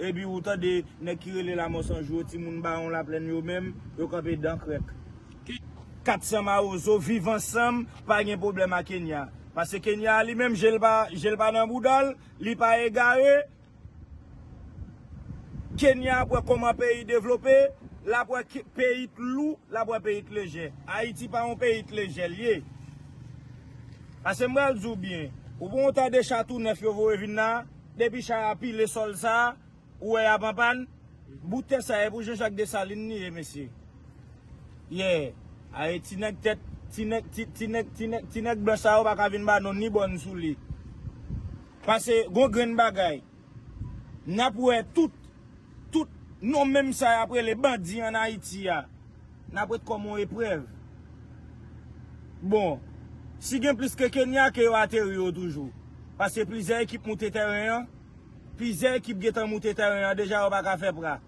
Epi ou tande nèg ki rele lamò san jou yo ti moun bawon laplèn yo menm yo kanpe dan krèk. Ki 400 mawozo viv ansanm pa gen pwoblèm a kenya pase kenya a li menm je l pa je l pa nan bouda l li pa egare kenya ap wè kòman peyi devlope l ap wè peyi t lou l ap wè peyi t lejè ayiti pa yon peyi t lejè l ye pase m pral di w byen ou pa w tande cha tou nèf yo voye vin la a. Depi chay a pile sol sa, ou wè yap anpan, bout tè sa e pou Jean Jacques Dessalines li ye mesye. Yeah, ae ti nèg tèt, ti nèg, ti nèg, ti nèg, ti nèg blanch sa yo pa ka vin ba nou ni bòn sou li. Pase gon grenn bagay, nap wè tout, tout non menm sa yap rele bandi an Ayiti a. N ap ret kòm yon eprèv. Bon, si gen plis ke Kenya ke yo ateri yo toujou. Paske plizyè ekip moute tèren an. Plizyè ekip gentan moute tèren an deja yo pa ka fè pra.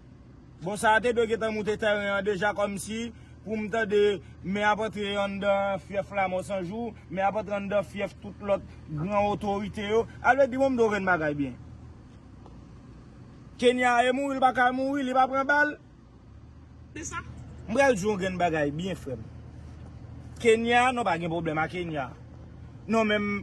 Bon sa a te dwe gentan moute tèren an deja kòmsi pou m tande men ap antre anndan fyèf la mò san jou, men ap antre anndan fyèf tout lòt gran otorite yo. Ale di mwen m do grenn bagay byen. Kenya e mouri l pa ka mouri, li pa pran bal? M pral di w yon grenn bagay byen frè m. Kenya, non pa gen pwoblèm a Kenya. Non men.